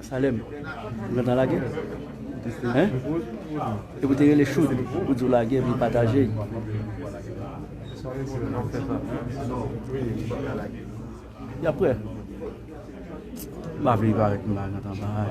Salem, ou gentan lage? Hein? E pou te rele Choud, pou di ou lage epi pataje. Ya prè? M'a vle viv avèk nou la gentan bay.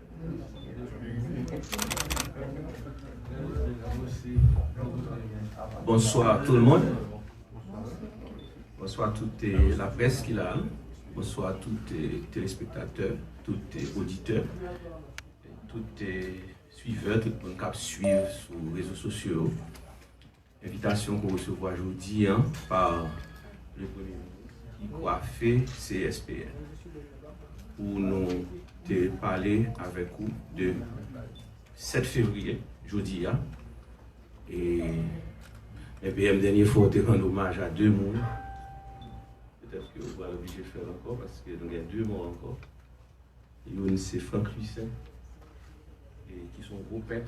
Bonswa tout le monde Bonswa tout la presse ki la Bonswa tout telespektatè Tout oditè Tout suivè Tout moun kap suiv sou rezo sosyo Envitasyon ke w resevwa jodi an pa le Premye Minis ki kwafe CSPN pou nou te pale avèk ou de 7 fevriye, jodi a, e men PM dènye fwa w te rann omaj a 2 moun, petèt ke w pral oblije fè l ankò paske nou gen 2 mò ankò, youn se Franck Louissaint ki son gwo pèt.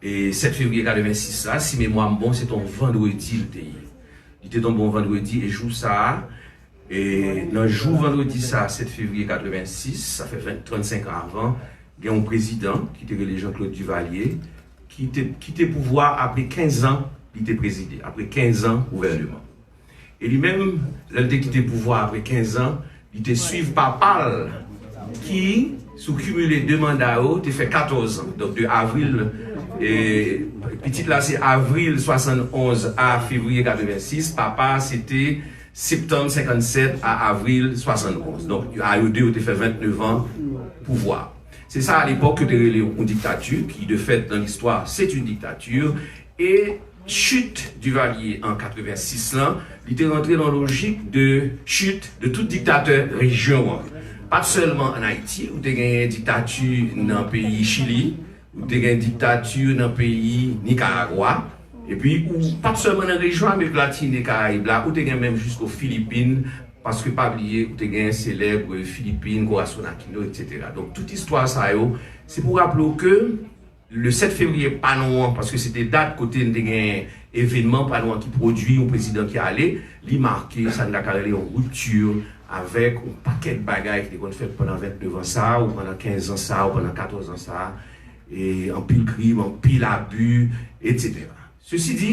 7 fevriye 86 la, si memwa m bon, se t on vandredi l te ye. Li te tonbe yon vandredi e jou sa a, nan jou vandredi sa a 7 fevriye 86, sa fè 35 an avan, gen yon prezidan ki te rele Jean-Claude Duvalier ki te kite pouvwa apre 15 an li te prezide, apre 15 an gouvèneman. E li menm, lè l te kite pouvwa apre 15 zan, li te swiv papa l ki, sou kimile 2 manda yo, te fè 14 zan. Donk de avril, pitit la se avril 71 a fevriye 86, papa a se te septanm 57 a avril 71. Donk a yo 2 yo te fè 29 an pouvwa. Se sa a lepòk yo te rele yon diktati ki de fèt nan listwa se t yon diktati e. Chute Duvalier an 86 lan, li te rantre lan lojik de chute de tout diktatè rejyon an. Pat sèlman an Ayiti, ou te genyen diktati nan peyi Chili, ou te gen diktati nan peyi Nikaragwa, epi ou pat sèlman nan rejyon Amerik Latin e Karayib la, ou te gen menm jisko Filipin, paske pa bliye ou te gen selèb Filipin, Corazon Aquino, etc. Donk tout istwa sa yo, se pou raple w ke. Le 7 fevriye pa nou an, paske se te dat kote n te gen evenman pa nou an ki pwodui yon prezidan ki ale, li make sa n ta ka rele yon rupture avèk yon pakèt bagay ki te konn fèt pandan 29 an sa a, ou pandan 15 zan sa a, ou pandan 14 zan sa a, anpil krim, anpil abu, etc. Sesi di,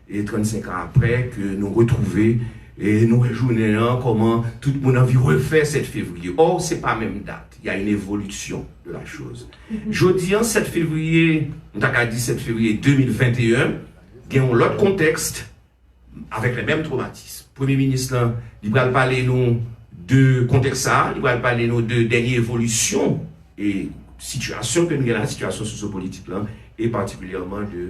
E 35 ans aprè ke nou retrouve e nou wè jounen an koman tout moun anvi refè 7 fevriye or se pa menm dat ya yn evolution de la chose jodi an 7 fevriye m ta ka di 7 fevriye 2021 gen yon lot contexte avek le menm traumatisme premye minis lan li pral pale nou de contexte sa li pral pale nou de denye evolution e situation ke nou gen la situation socio politik lan e particulièrement de.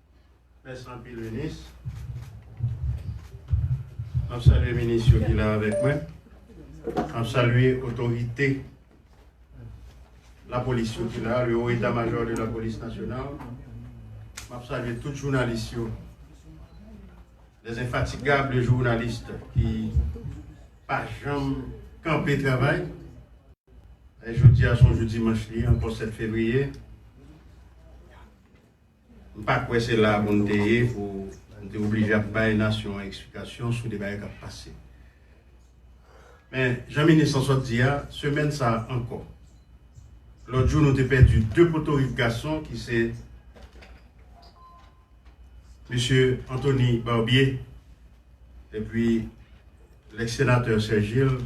Mèsi anpil minis. Map salye minis yo ki la avèk mwen. Map salye otorite la polis yo ki la, le haut etat major de la police nationale. Map salye tout jounalis yo. Les infatigables journalistes ki pa janm kanpe travay. Jodi a son jou dimanch li ankò 7 fevriye. M pa kwè se la a pou n te ye pou n te oblije ap bay nasyon an eksplikasyon sou de bagay k ap pase. Men, jan minis lan sot di a, semèn sa a ankò, lòt jou nou te pèdi 2 potorik gason ki se Mesye Anthony Barbier epi lèks senatè Serge Gilles,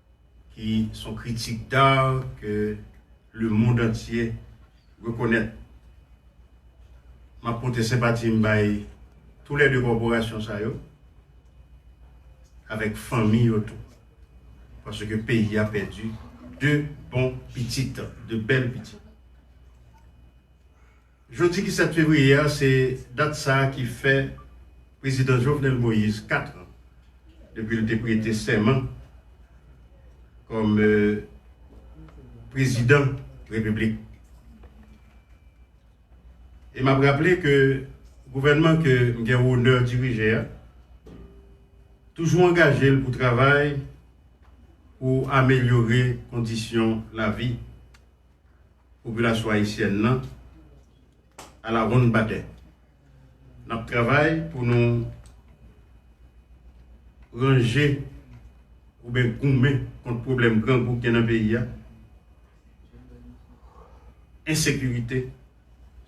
ki son kritik d'art ke le mond antye rekonèt. M'ap pote senpati m' bay tou lè 2 kòporasyon sa yo avèk fanmi yo tou, paske peyi a pèdi 2 bon pitit, 2 bèl pitit. Jodi ki 7 fevriye a se dat sa ki fè Prezidan Jovenel Moïse 4 an depi l te prete sèman kòm Prezidan Repiblik. E m ap raple ke gouvènman ke m gen onè dirije a toujou angaje l pou travay pou amelyore kondisyon lavi popilasyon ayisyèn nan alawonn batè. N ap travay pou nou ranje oubyen goumen kont pwoblèm grangou k gen nan peyi a, ensekirite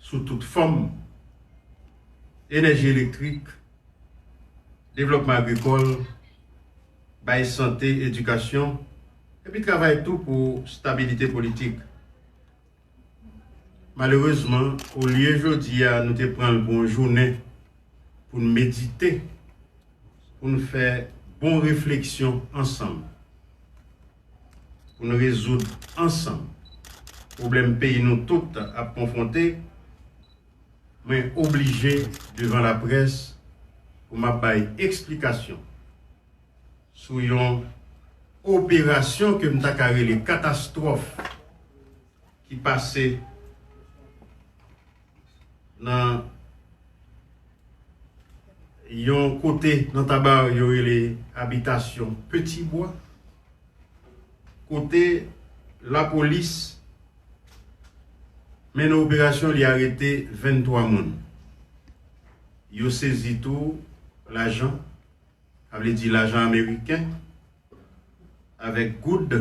sou tout fòm, enèji elektrik, devlòpman agrikòl, bay sante, edikasyon. epi travay tou pou stabilite politik. Malerezman, olye jodi a nou te pran l pou yon jounen pou n medite, pou n fè bon refleksyon ansanm, pou n rezoud ansanm pwoblèm peyi nou tout ap konfwonte, mwen oblije devan laprès pou m ap bay eksplikasyon. sou yon operasyon ke m ta ka rele katastwòf ki pase nan yon kote nan Taba yo rele Abitasyon Peti Bwa, kote lapolis mennen operasyon li arete 23 moun. Yo sezi tou lajan. Sa vle di lajan ameriken avèk goud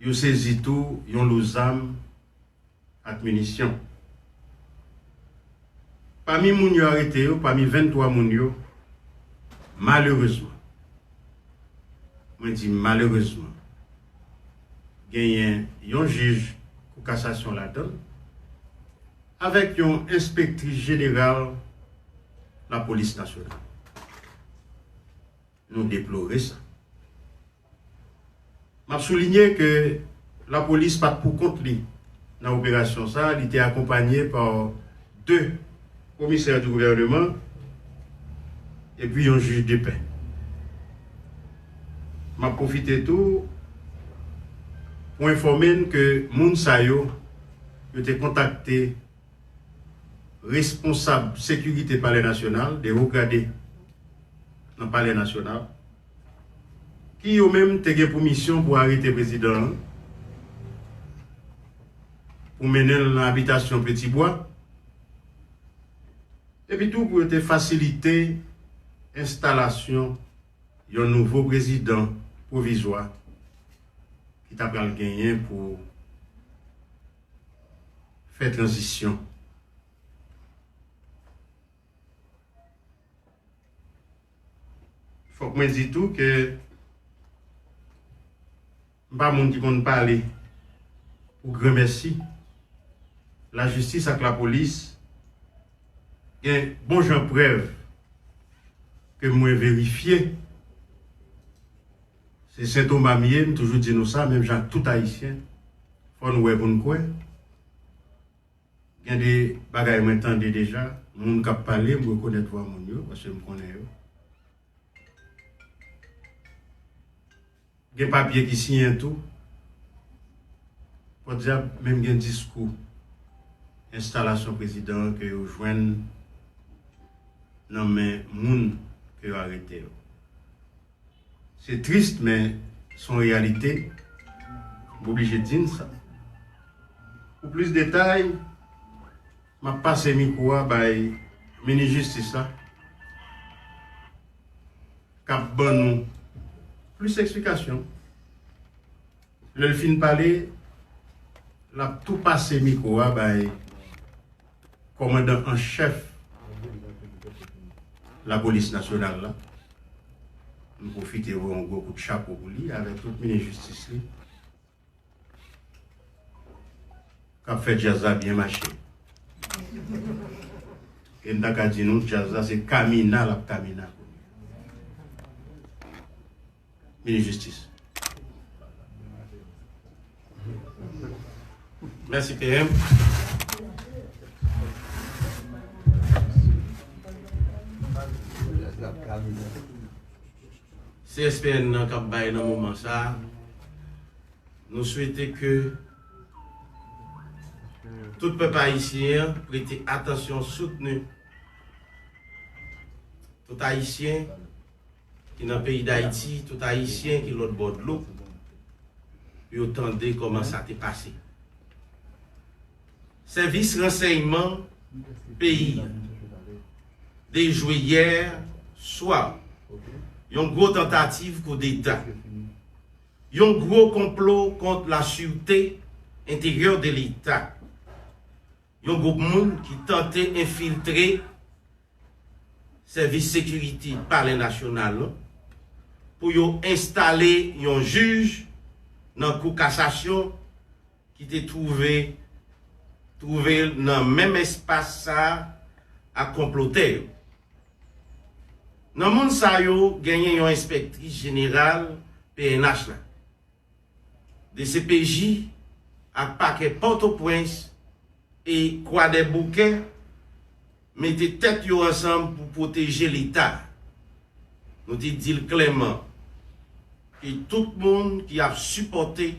yo sezi tou yon lo zam ak minisyon. Pami moun yo arete yo, pami 23 moun yo, malerezman, mwen di malerezman, genyen yon jij kou kasasyon ladan l avèk yon enspektris jeneral Lapolis Nasyonal. Nou deplore sa. M ap soulinye ke lapolis pa t pou kont li nan operasyon sa, li te akonpanye pa 2 komisè di gouvèneman epi yon jij de pè. M ap pwofite tou pou enfòme n ke moun sa yo, yo te kontakte Responsab sekirite palè nasyonal, 2 wo grade nan palè nasyonal, ki yo menm te gen pou misyon pou arete prezidan an, pou mennen l nan abitasyon Peti Bwa, epi tou pou yo te fasilite enstalasyon yon nouvo prezidan pwovizwa ki ta pral genyen pou. fè tranzisyon. Fòk mwen di tou ke m pa moun ki konn pale pou granmèsi. Lajistis ak lapolis gen bon jan prèv ke mwen verifye. Se Sentoma m ye, m toujou di nou sa, menm jan ak tout Ayisyen, fò n wè pou n kwè. Gen de bagay mwen tande deja, moun k ap pale, m rekonèt vwa moun yo, paske m konnen yo. Gen papye ki siyen tou. Pòdjab, menm gen diskou enstalasyon prezidan an ke yo jwenn nan men moun ke yo arete yo. Se triste men son reyalite m oblije di n sa. Pou plis detay map pase mikwo a bay minis jistis la kap ban nou plis eksplikasyon. Lè l fin pale lap tou pase mikwo a bay. kòmandan an chèf lapolis nasyonal la, m pwofite voye yon gwo kout chapo pou li avèk tout minis jistis li k ap fè djaz la byen mache. E m ta ka di nou djaz la se kamina l ap kamina kounye a. Minis Jistis. Mèsi PM. CSPN nan k ap bay nan moman sa a, nou swete ke tout pèp ayisyen an prete atansyon soutni tout ayisyen ki nan peyi dayiti tout ayisyen ki lòt bò dlo pou yo tande kòman sa te pase sèvis ransèyman peyi dejwe yè swa yon gwo tantativ koudeta yon gwo konplo kont la sirte enteryè de leta yon gwoup moun ki tante enfiltre Sèvis Sekirite Palè Nasyonal lan pou yo enstale yon jij nan Kou Kasasyon ki te twouve twouve l nan menm espas sa a ak konplotè yo. Nan moun sa yo genyen yon enspektris jeneral pnh la, Dcpj ak pakè Pòtopwens e Kwadèboukè mete tèt yo ansanm pou pwoteje leta. Nou te di l klèman ke tout moun ki ap sipòte,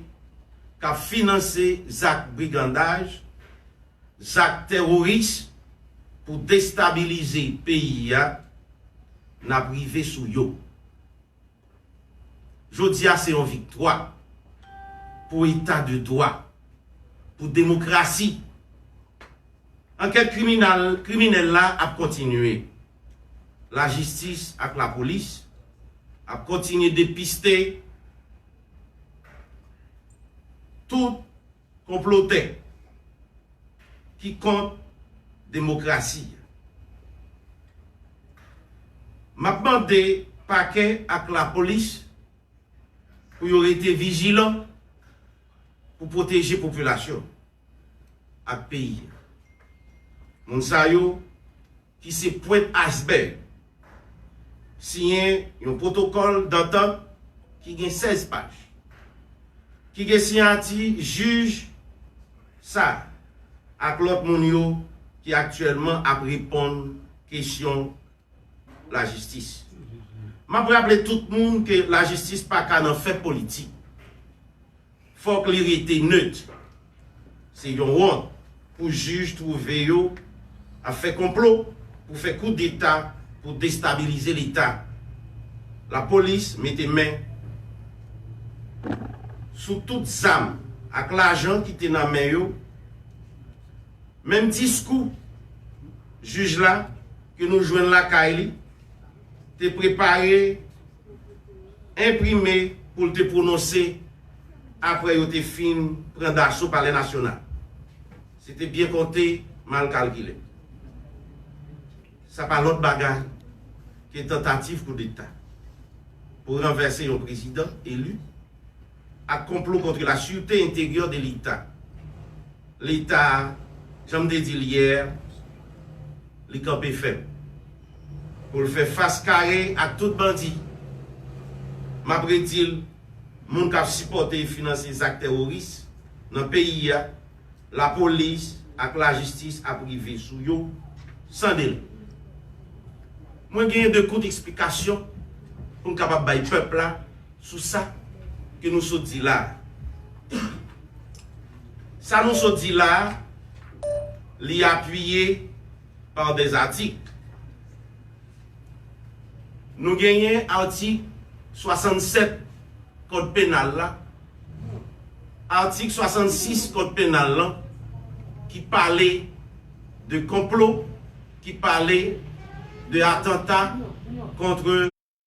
k ap finanse zak brigandaj, zak tèroris pou destabilize peyi a, n ap rive sou yo. Jodi a se yon viktwa pou eta de dwa, pou demokrasi. Ankèt kriminal-kriminèl la ap kontinye. Lajistis ak lapolis ap kontinye depiste tout Konplotè ki kont demokrasi a. M ap mande Pakè ak Lapolis pou yo rete vijilan pou pwoteje popilasyon ak peyi a. Moun sa yo ki se pwent aysbèg, siyen yon pwotokòl dantant ki gen 16 paj, ki gen siyati jij sa ak lòt moun yo ki aktyèlman ap reponn kesyon lajistis. M ap raple tout moun ke lajistis pa ka nan fè politik. fòk li rete neut. Se yon wont pou jij twouve yo ap fè konplo pou fè kou deta pou destabilize leta. La polis mete men sou tout zam ak lajan ki te nan men yo. Menm diskou jij la ke nou jwenn lakay li te prepare. enprime pou l te pwononse apre yo te fin pran daso Palè Nasyonal. Se te byen konte, mal kalkile. Sa pa lòt bagay ke tantativ koudeta pou ranvèse yon prezidan eli. ak konplo kontre la sûreté intérieure de l'Etat. Leta, jan m te di l yè, li kanpe fèm pou l fè fas kare ak tout bandi. M ap redi l, moun k ap sipòte e finanse zak tèworis nan peyi a, lapolis ak lajistis ap rive sou yo san delè. Mwen gen 2 kout eksplikasyon pou m kapab bay pèp la. Sou sa ke nou sot di la a. Sa nou sot di la a, li apiye pa des atik. Nou genyen atik 67 kòd penal la, atik 66 kòd penal lan ki pale de konplo, ki pale de atanta kontre.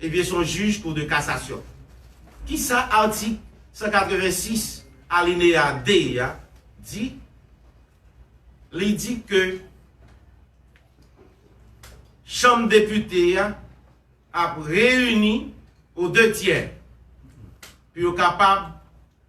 Ebyen son jij kou de kasasyon. Kisa atik 186 alineya 2 a di? Li di ke chanm depite a ap reyini o de tyè pou yo kapab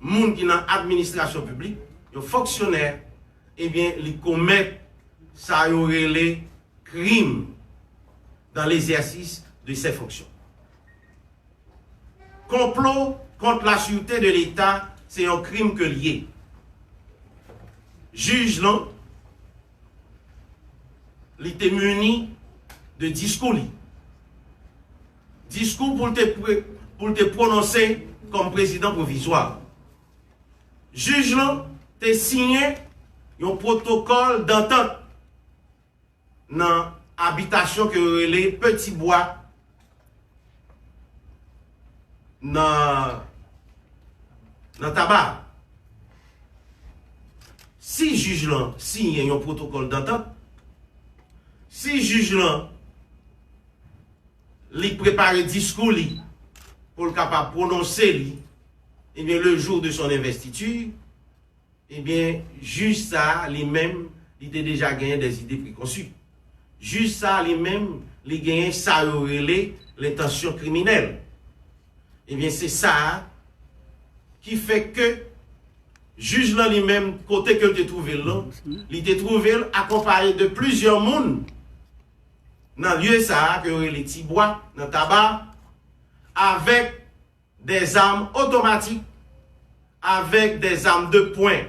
moun ki nan administrasyon piblik, yon fonksyonè, ebyen li komèt sa yo rele krim dan lezèsis de sè fonksyon. Konplo kont la sirte de leta se yon krim ke l ye. Jij lan, li te muni de diskou li. Diskou pou l te pwononse kòm prezidan pwovizwa a. Jij lan te siyen yon pwotokòl dantant nan abitasyon ke yo rele Peti Bwa nan Taba a. Si jij lan siyen yon pwotokòl dantant, si jij lan. li prepare diskou li pou l kapab pwononse li ebyen le jour de son investiture ebyen jij sa li menm li te deja genyen des idées preconçues jij sa li menm li genyen sa yo rele l'intention criminelle ebyen se sa ki fè ke jij lan li menm kote ke l te twouve l lan li te twouve l akonpaye de plizyè moun. nan lye sa a ke yo rele Ti Bwa nan Taba avèk de zam otomatik, avèk de zam de pwen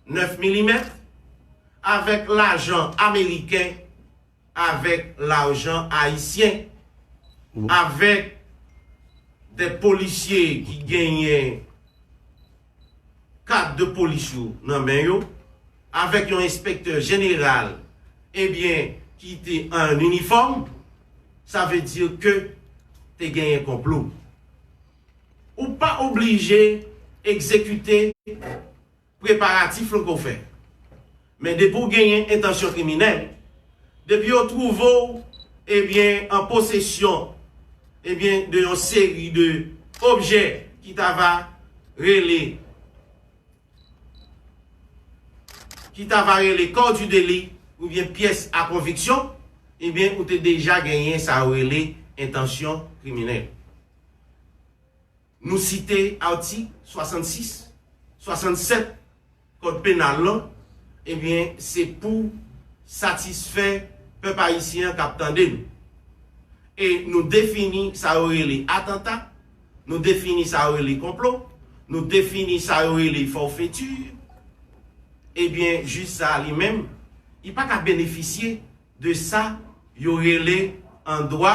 9 milimèt, avèk lajan ameriken, avèk larjan ayisyen, avèk de polisye ki genyen. kad de polis yo nan men yo, avèk yon enspektè jeneral ebyen ki te an inifòm, sa vle di ke te genyen konplo. Ou pa oblije egzekite preparatif lan ke w fè. Men depi w genyen entansyon kriminèl, depi yo twouve w ebyen an posesyon ebyen de yon seri de objè ki ta va rele ki ta va rele corps du délit oubyen pyès a konviksyon ebyen ou te deja genyen sa yo rele entansyon kriminèl. Nou site atik 66, 67 kòd penal lan, ebyen se pou satisfè pèp ayisyen an k ap tande nou. E nou defini sa yo rele atanta, nou defini sa yo rele konplo, nou defini sa yo rele fòfeti, ebyen jij sa a li menm li pa ka benefisye de sa yo rele an dwa,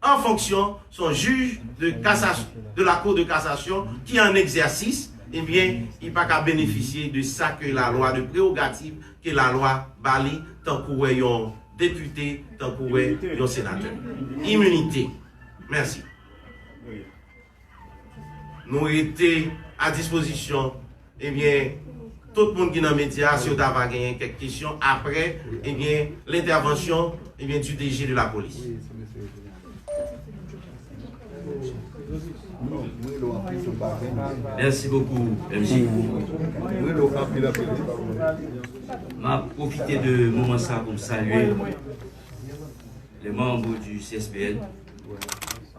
an fonksyon son jij de kasas de la kou de kasasyon ki an egzèsis ebyen li pa ka benefisye de sa ke la lwa de prewogativ ke la lwa ba li tankouwè yon depite tankouwè yon senatè iminite mèsi. Nou rete a dispozisyon ebyen tout moun ki nan medya si yo ta va genyen kèk kesyon aprè ebyen lentèvansyon ebyen di DG de lapolis. Mèsi bokou MJ. M ap pwofite de moman sa pou m salye lè manbo di CSPN.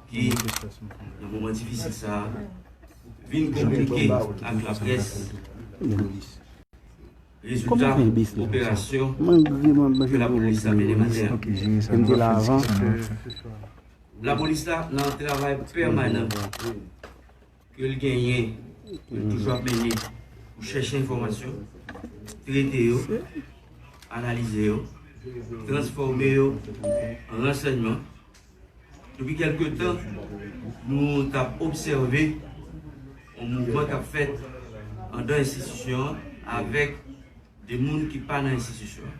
ke nan moman difisil sa a vin konplike ak laprès lapolis. Rezilta operasyon ke lapolis la mennen maten an. Lapolis la nan travay pèmanan. ke l genyen, ke l toujou ap mennen pou chèche enfòmasyon, trete yo, analize yo, transfòme yo an ransèyman. Depi kèlke tan, nou t ap obsève yon mouvman k ap fèt andan enstitisyon an avèk de moun ki pa nan enstitisyon an.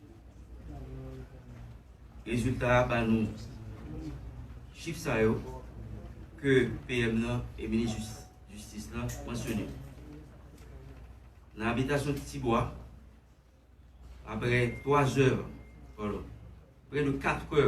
Rezilta a ba nou chif sa yo ke PM nan e Minis Jistis la mansyone. Nan abitasyon Titibwa, apre 3 zè, pardon, prè de 4 è,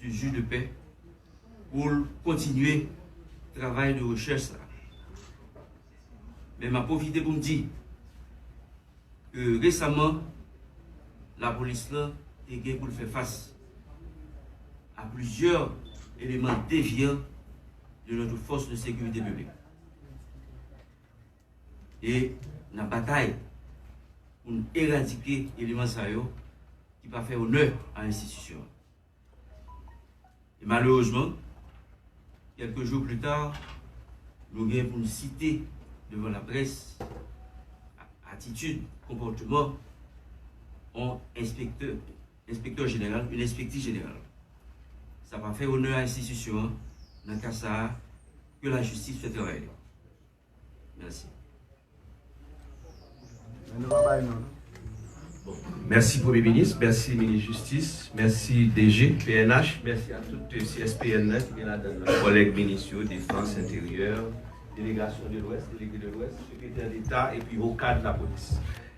du jus de paix pou l kontinye travay de rechèch sa a. Men m ap pwofite pou m di ke resaman lapolis lan te gen pou l fè fas a plizyè eleman devyan de notre force de securite publique. E nan batay pou n eradike eleman sa yo ki pa fè onè a enstitisyon an. E malerezman, kèlke jou pli ta, nou gen pou n site devan laprès atitid, konpòteman yon enspektè, enspektè jeneral, yon enspektè jeneral. Sa pa fè onè a enstitisyon an, nan ka sa a, ke lajistis fè travay li. Mèsi premye minis, mèsi minis jistis, mèsi DG pnh, mèsi a tout CSPN nan ki gen ladan l kòlèg minis yo, defans, enteryè, delegasyon de lwès, delege de lwès, sekretè deta epi okad lapolis.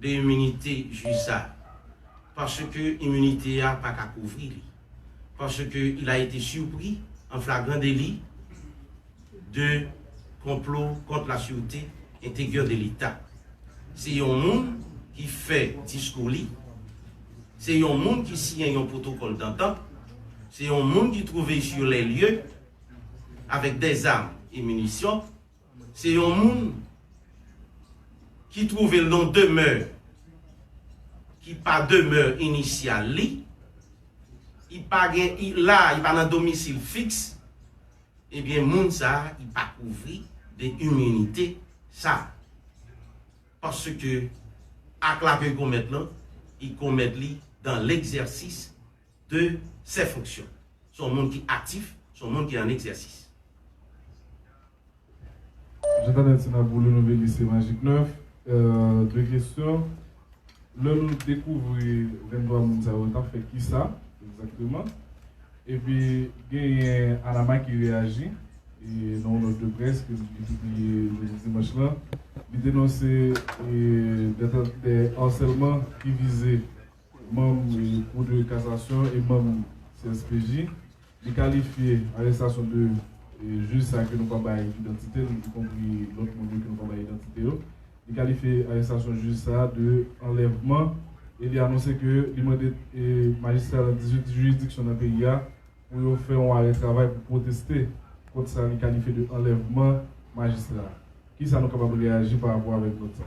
de iminite jij sa a, paske iminite a pa ka kouvri li, paske il a ete surpris en flagrant délit de complot contre la surete integior de leta. Se yon moun ki fè diskou li, se yon moun ki siyen yon protocole d'entente, se yon moun ki trouve sur les lieux avèk des armes et munitions, Se yon moun ki twouve l non demè ki pa demè inisyal li, i pa gen i la, i pa nan domisil fiks, ebyen moun sa a i pa kouvri de iminite sa a. Paske ak la ke l komèt lan, i komèt li dan legzèsis de ses fonctions. Se yon moun ki aktif, se yon moun ki an egzèsis. Jan Tanel se nan boule nou vini se Magic 9 2 kesyon lè nou dekouvri 23 moun sa yo tap fè kisa egzakteman epi genyen Anama ki reyaji nan yon nòt de près ke li pibliye jodi dimanch lan li denonse dè arsèlman ki vize manm Kou de Kasasyon e manm CSPJ. Li kalifye arestasyon 2 jij sa ke nou pa bay idantite l, ikonpri lòt moun yo ke nou pa bay idantite yo. Li kalifye arestasyon jij sa de anlèvman e li anonse ke li mande majistra nan 18 jiridiksyon nan peyi a pou yo fè yon arè travay pou pwoteste kont sa li kalifye de anlèvman majistra a. Kisa nou kapab reyaji parapò avèk nòt sa?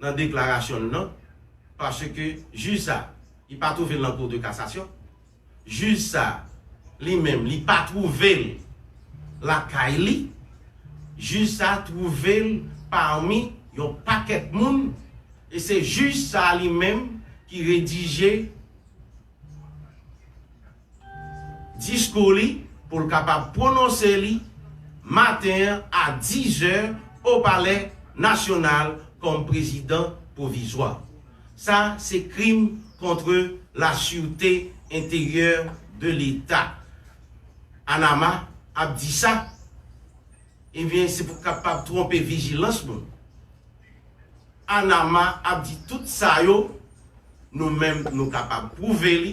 nan deklarasyon l nan, paske jij sa a, li pa twouve l nan Cour de Cassation, jij sa a li menm li pa twouve l lakay li, jij sa a twouve l pami yon pakèt moun, e se jij sa a li menm ki redije. diskou li pou l kapab pwononse li maten an a 10 zè o palè nasyonal kòm prezidan pwovizwa. Sa se krim kontre la sûreté intérieure de l'Etat. Panama ap di sa, ebyen se pou kapab twonpe vijilans moun. Panama ap di tout sa yo, nou menm nou kapab pwouve li,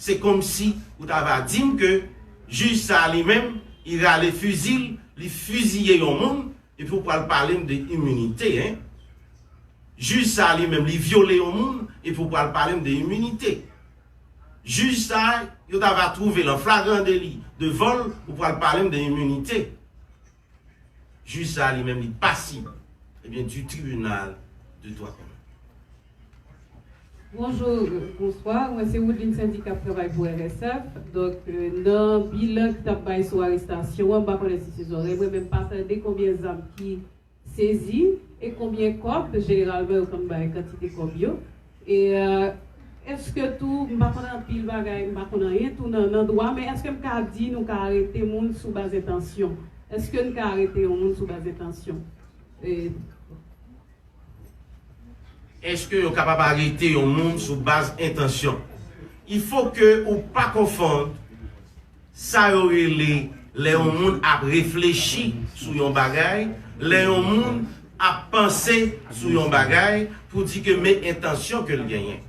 Se komsi ou ta va di m ke jij sa a li menm, li rale fizi l, li fiziye yon moun, epi ou pral pale m de iminite, hein? Jij sa a li menm, li vyole yon moun, epi ou pral pale m de iminite? Jij sa a, yo ta va twouve l an flagran deli devan l, ou pral pale m de iminite? Jij sa li menm li pasib ebyen du tribunal de dwa komen. Bonjou, bonswa, mwen se Woodline Saindy kap travay pou RSF, donk nan bilan ki tap bay sou arestasyon an m pa konnen si se zòrèy mwen men m pa tande konbyen zam ki sezi e konbyen kòb, jeneralman yo konn bay kantite kòb yo, E eske tou, m pa konn anpil bagay, m pa konn anyen tou nan nan dwa, men eske m ka di nou ka arete moun sou baz entansyon? Eske n ka arete yon moun sou baz entansyon? E. Eske yo kapab arete yon moun sou baz entansyon? Il faut que ou pa konfonn. Sa yo rele lè yon moun ap reflechi sou yon bagay, lè yon moun ap panse sou yon bagay pou di ke men entansyon ke l genyen.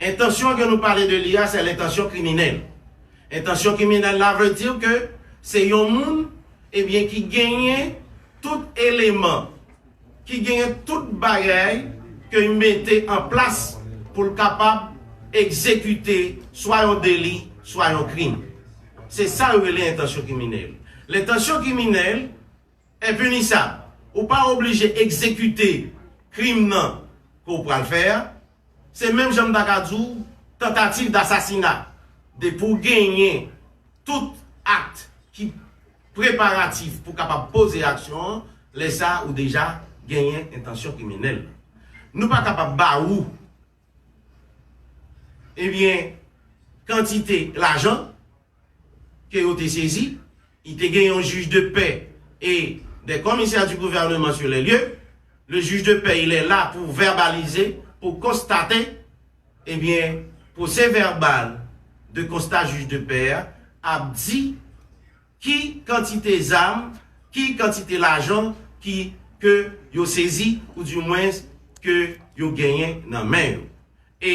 Entansyon ke nou pale de li a se lentansyon kriminèl. Entansyon kriminèl la vle di ke se yon moun ebyen ki genyen tout eleman. ki genyen tout bagay ke y mete an plas pou l kapab egzekite swa yon deli swa yon krim. Se sa yo rele entansyon kriminèl. Lentansyon kriminèl enpinisab. Ou pa oblije egzekite krim nan ke w pral fè a. Se menm jan m ta ka di w tantativ dasasina. Depi w genyen tout akt ki preparatif pou kapab poze aksyon an, lè sa ou deja genyen entansyon kriminèl. Nou pa kapab ba ou ebyen kantite lajan. ke yo te sezi, i te gen yon juge de paix e des commissaires du gouvernement sur les lieux, le juge de paix il est là pou verbalize, pou konstate, e byen procès verbal de constat juge de paix a ap di ki kantite zam, ki kantite lajan ki ke yo sezi ou du moins ke yo genyen nan men yo. E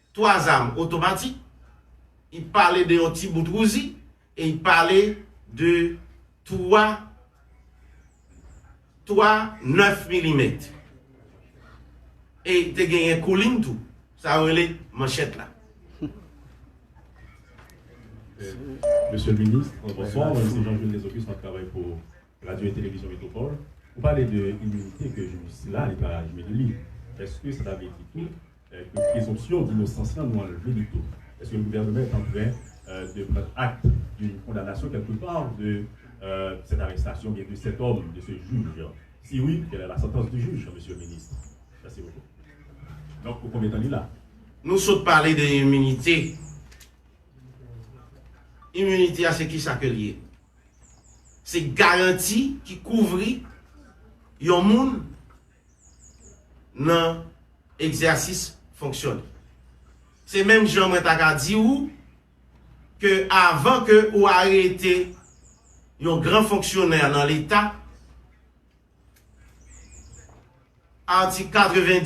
3 zam otomatik, i pale de yon ti bout Uzi e i pale de 3 3 9 milimèt. E te genyen koulin tou, sa yo rele manchèt la. Mesye minis, anbonswa, mwen se Jean Jules Desocus map travay pou. Radio et Télévision Métropole, ou pale de iminite ke jou sila li pa jwenn li. Eske sa ta vle di tou ke prezonpsyon dinosans lan nou anlve li tou? Eske le gouvernement est en train de prendre acte d'une condamnation quelque part de cette arrestation ou bien de cet homme, de ce juge? Si oui, quelle est la sentence du juge, Monsieur le Ministre? Merci beaucoup. Donc pou konbyen tan li la? Nou sot pale de iminite. Iminite a se kisa ke li ye? Se garanti ki kouvri yon moun nan egzèsis fonksyon li. Se menm jan mwen ta ka di ou ke avan ke ou arete yon gran fonksyonè nan leta, atik 90.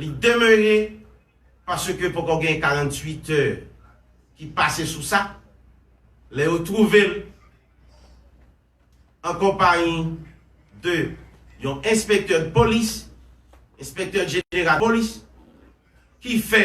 Li demere paske poko gen 48 è ki pase sou sa, lè yo twouve l an konpayi de yon enspektè dpolis, enspektè jeneral polis, ki fè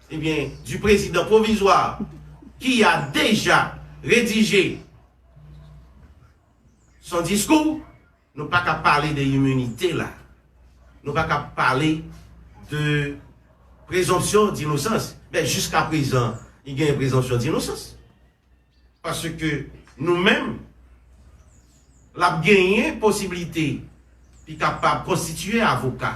Ebyen du prezidan pwovizwa ki a deja redije son diskou, nou pa ka pale de iminite la, nou pa ka pale de prezonpsyon dinosans. Men jiska prezan li genyen prezonpsyon dinosans. Paske nou menm l ap genyen posiblite li kapab konstitiye avoka.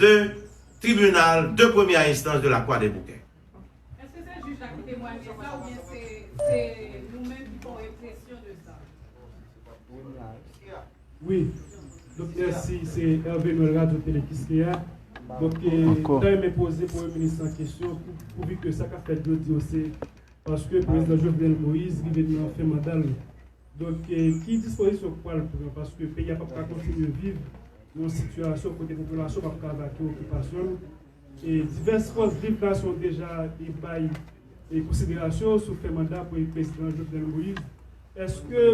2, Tribinal de premyè enstans de Lakwa de Bouke. Èske se jij la ki temwanye sa oubyen se se nou menm ki fè yon enpresyon de sa? Wi, donk mèsi se Hervé Noël Radyo Tele Kiskeya, donk mwen ta renmen poze premye minis lan kesyon pou vi ke sa kap fèt jodi yo se paske prezidan Jovenel Moïse rive nan fen manda l Donk ki dispozisyon k pral pran paske peyi a pap ka kontinye viv yon sitiyasyon kote popilasyon pap ka vake okipasyon l e divès fòs viv nasyon deja te bay konsiderasyon sou fen manda pou prezidan Jovenel Moïse eske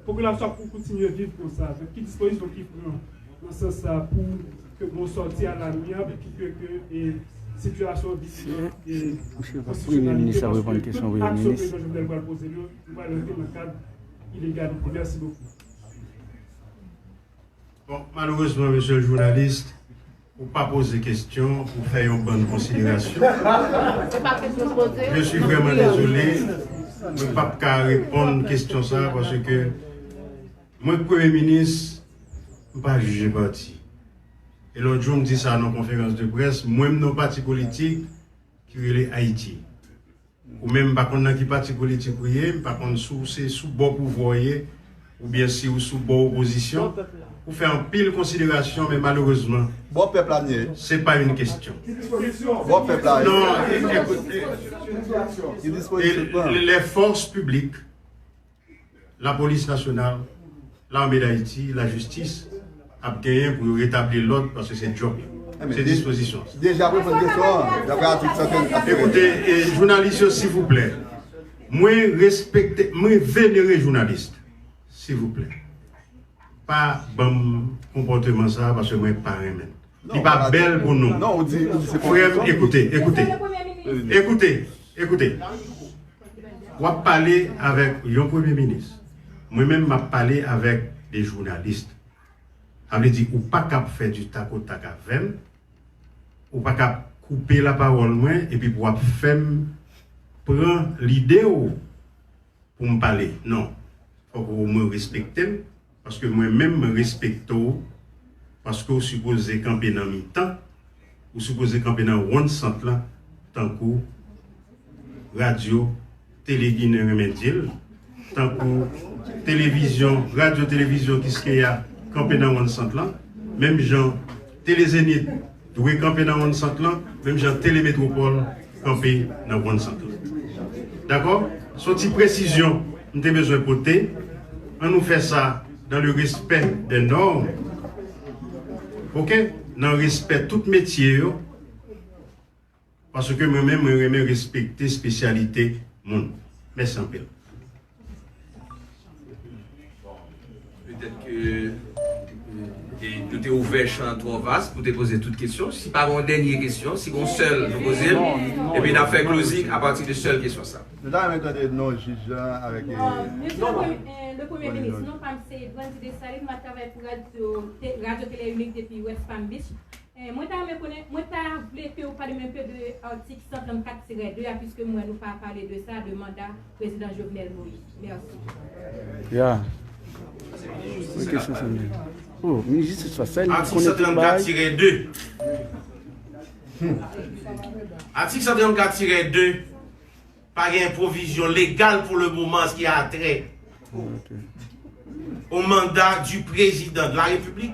popilasyon ap kontinye viv konsa donk ki dispozisyon ki pran nan sans sa pou ke gon sòti a lamyab e pou ke sitiyasyon vin nan konstisyonalite paske tout aksyon prezidan Jovenel pral poze l yo. Yo pral rantre nan kad ilegalite. Merci beaucoup. Bon, malerezman mesye journaliste ou pa poze kestyon ou fè yon bann konsiderasyon. Se pa kestyon m poze. Je suis vraiment désolé mwen pap ka reponn kestyon sa parce que mwen k premye minis m pa jije pati. E lòt jou m di sa nan konferans de près mwen m nan pati politik ki rele Haïti. Ou menm m pa konn nan ki pati politik ou ye, m pa konn si w se sou bò pouvwa w ye oubyen si w sou bò opozisyon, ou fè anpil konsiderasyon men malerezman se pa yn kestyon non e lè fòs piblik. Lapolis Nasyonal, Lame Dayiti, Lajistis ap genyen pou yo retabli lòd paske se djòb yo. Se dispozisyon an. Deja reponn kesyon an dapre atik 115 ak. Ekoute jounalis yo sivouplè, mwen respekte, mwen venere jounalis sivouplè pa banm konpòteman sa paske mwen pa renmen l. Li pa bèl pou nou. Frè m ekoute, ekoute, ekoute, ekoute. W ap pale avèk yon premye minis. Mwen menm m ap pale avèk de jounalist. Sa vle di ou pa kab fè di tak o tak avè m. Ou pa kab koupe lapawòl mwen epi pou w ap fè m pran lide w pou m pale non fòk ou omwen respekte m paske mwen menm m respekte w paske w sipoze kanpe nan mitan ou sipoze kanpe nan wonn sant lan tankou radyo tele ginen renmen di l tankou televizyon radyo televizyon kiskeya kanpe nan wonn sant lan menm jan tele zenit. Dwe kanpe nan wonn sant lan, menm jan Tele Metropole kanpe nan wonn sant lan. Dakò? Son ti presizyon m te bezwen pote, an nou fè sa dans le respect des normes, ok, nan respè tout metye yo. Paske mwen menm mwen renmen respekte spesyalite moun. Mèsi anpil. Petèt ke nou te ouvè chan twò vas pou te poze tout kesyon. Si pa gen yon dènye kesyon, si gen yon sèl nou poze l, epi n ap fè closing apati de sèl kesyon sa. Nou ta renmen tande non jij la avèk non non. Mesye le premye minis, non pa m se Brandy Dessalines, m ap travay pou radyo Tele Inik depi West Palm Beach. Eh mwen ta renmen konnen, mwen ta vle ke ou pale mwen enpe de article 134 tirè 2 a puiske m wè nou pa pale de sa, de manda Prezidan Jovenel Moïse. Merci. Atik 134 tirè 2 Atik 134 tirè 2 Pa gen pwovizyon legal pou le moman an se ki atrè o manda di Prezidan de la Repiblik.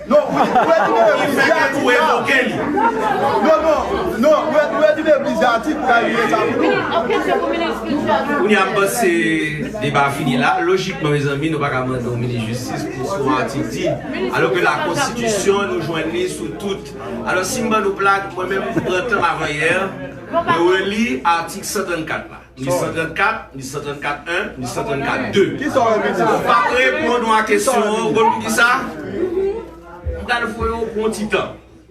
Non wi ouwe tounen legliz de atik la. Non non non ouwe tounen legliz de atik pou ta rele sa pou nou. Kounye a m panse deba a fini la. Lojikman mezanmi nou pa ka mande yon minis jistis pou sa yon atik di. Alò ke la konstitisyon nou jwenn li sou tout. Alò si m ban nou plag mwen menm m pran tan m avan yè mwen reli atik 134 la. Ni 134, ni 134 1, ni 134 2. Ou pa p reponn ou a kesyon an, ou konn pou ki sa? M pral fè w pran yon ti tan.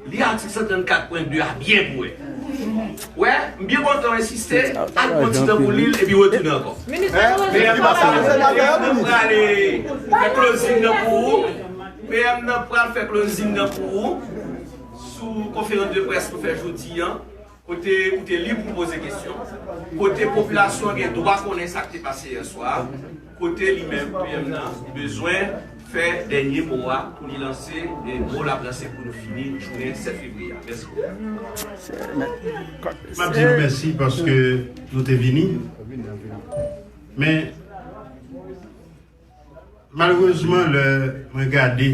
Li atik 134 pwen 2 a byen pou wè. Wè, m byen kontan w ensiste, al pran yon ti tan pou li l epi retounen ankò. PM nan pral fè klozin nan pou ou. PM nan pral fè klozin nan pou ou sou konferans de près nou fè jodi an. Kote ou te lib pou poze kesyon, kote popilasyon an gen dwa konnen sa k te pase yè swa a, kote li menm, PM nan, bezwen fè dènye mo a pou li lanse mo l ap lanse pou nou fini jounen 7 fevriye a. Mèsi bokou. M ap di nou mèsi paske nou te vini. Men, malerezman lè mwen gade.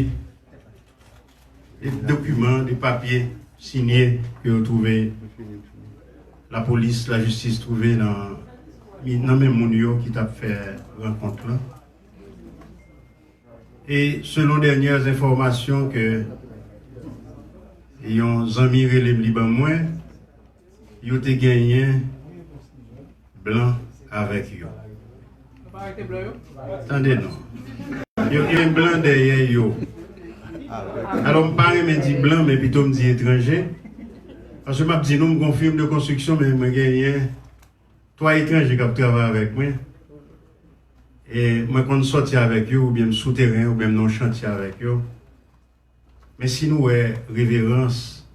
De dokiman, de papye sinye ke yo twouve, lapolis, lajistis twouve nan men moun yo ki tap fè rankont lan. E selon dènyè enfòmasyon ke yon zanmi rele m li ban mwen, Yo te genyen blan avèk yo. Tande non. Yo gen blan dèyè yo. Alò m pa renmen di blan men pito m di etranje. Paske m ap di nou m gon firm de konstriksyon men mwen genyen 3 etranje k ap travay avèk mwen. E mwen konn sòti avèk yo oubyen m sou teren oubyen m nan yon chantye avèk yo. Men si nou wè reverans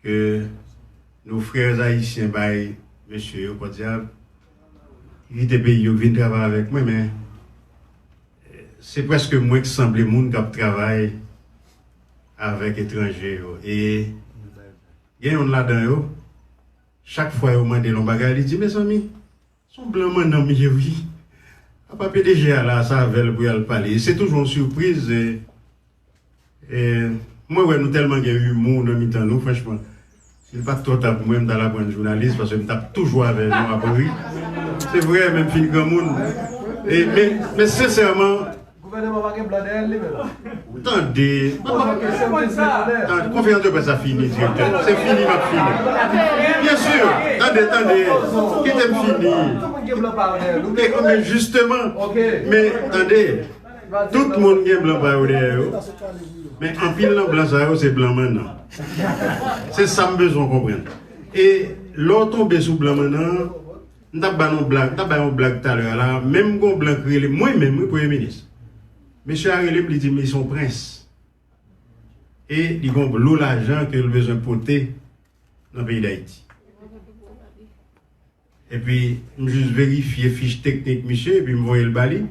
Ke nos frères haïtiens bay mesye yo pòdyab ki kite peyi yo ki vin travay avèk mwen men se prèske mwen ki sanble moun k ap travay avèk etranje yo e gen youn ladan yo chak fwa yo mande l yon bagay li di mezanmi Son blan mannan m ye wi. Apa pdg a la sa avèl pou yal pale se toujou yon surprise mwen wè nou tèlman gen humour nan mitan nou franchman si l pat trò ta pou mwen m tal aprann jounalis paske m tap toujou avè nou ap ri se vrè menm fin granmoun men sensèman Gouvèneman pa gen blan dèyèl li menm. Tande konferans de presse la fini direktè se fini map fini bien sur tande tande kitem fini men justement men tande tout moun gen blan pa yo dèyè yo men anpil nan blan sa yo se blan mannan se sam bezwen konprann e lè w tonbe sou blan mannan M tap ba nou blag, m tap bay yon blag talè a la, menm gon blan ki rele m, mwen menm wi premye minis, mesye a rele m li di m li son prens e li gon lo lajan ke l bezwen pote nan peyi dayiti. Epi m jis verifye fich teknik misye epi m voye l ba li.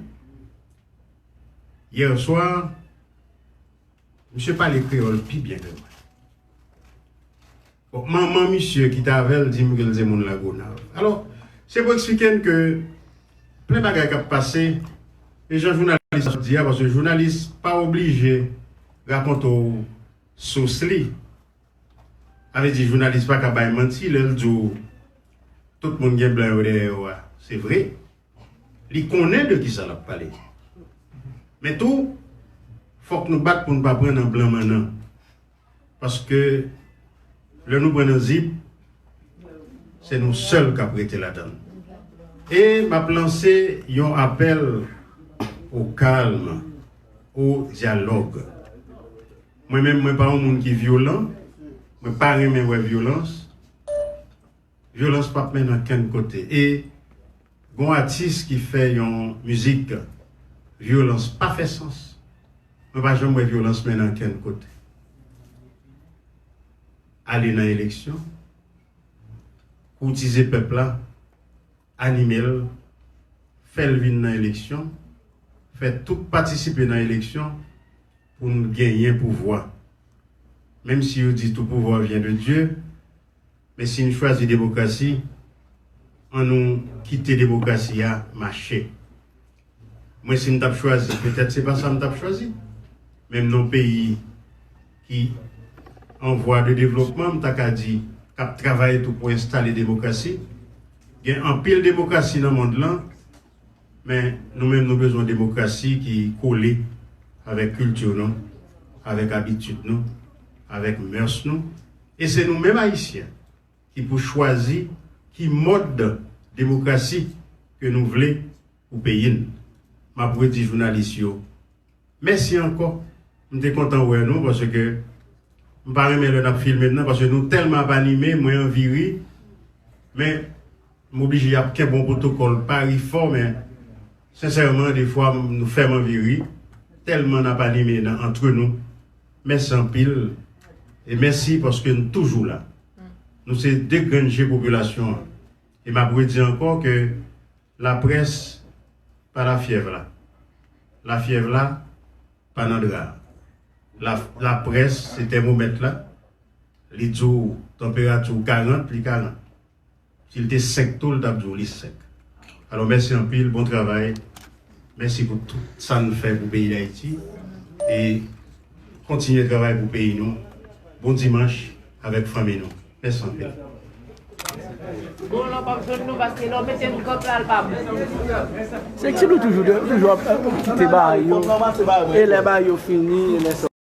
Hier soir, misye pale kreyòl pi byen ke mwen. Bon, manman misye ki t avè l di m ke l se moun Lagonav. Alò, se pou eksplike n ke plen bagay k ap pase, e jan jounalis la di a, paske jounalis pa oblije rakonte w sous li. Sa vle di jounalis pa ka bay manti lè l di w tout moun gen blan yo dèyè yo a. Se vre, li konnen de kisa l ap pale. Men tou, fòk nou bat pou n pa pran nan blan mannan. Paske lè nou pran nan zip se nou sèl kap rete ladann. E map lanse yon apèl o kalm, o dyalòg. Mwen menm mwen pa yon moun ki vyolan, mwen pa renmen wè vyolans. Vyolans pap mennen ankenn kote e gon atis ki fè yon mizik vyolans pa fè sans mwen pa janm wè vyolans mennen ankenn kote ale nan eleksyon koutize pèp la animel fèl vin nan eleksyon fè tout patisipe nan eleksyon poun genyen pouvwa menm si yo di tou pouvwa vyen de Dye Men si n chwazi demokrasi, an nou kite demokrasi a mache. Mwen si m t ap chwazi, petèt se pa sa m t ap chwazi, men m nan yon peyi ki an vwa de devlopman, m ta ka di k ap travay tou pou enstale demokrasi. Gen anpil demokrasi nan mond lan, men nou menm nou bezwen demokrasi ki kole avèk kilti nou, avèk abitid nou, avèk mœurs nou. E se nou menm Ayisyen ki pou chwazi ki mòd demokrasi ke nou vle pou peyi n. M ap redi jounalis yo, mèsi ankò. M te kontan wè nou paske m pa renmen lè n ap filme m nan paske nou tèlman ap anime mwen anvi ri men m oblije ap kenbe yon pwotokòl pa ri fò men sensèman defwa nou fè m anvi ri tèlman n ap anime nan antre nou. Mèsi anpil e mèsi paske n toujou la. Nou se 2 grenn je popilasyon an e m ap redi ankò ke laprès pa lafyèv la. Lafyèv la pa nan dra a. La laprès se tèmomèt la, li di w tanperati w 40, li 40. Si l te 5 tou l tap di w li 5. Alò mèsi anpil bon travay mèsi pou tout sa n fè pou peyi dayiti e kontinye travay pou peyi nou bon dimanch avèk fanmi nou mèsi anpil. Bon lò pap jwenn nou paske lò mete nou kòk la l pa bon. Seksi nou toujou ap kite bagay yo e lè bagay yo fini.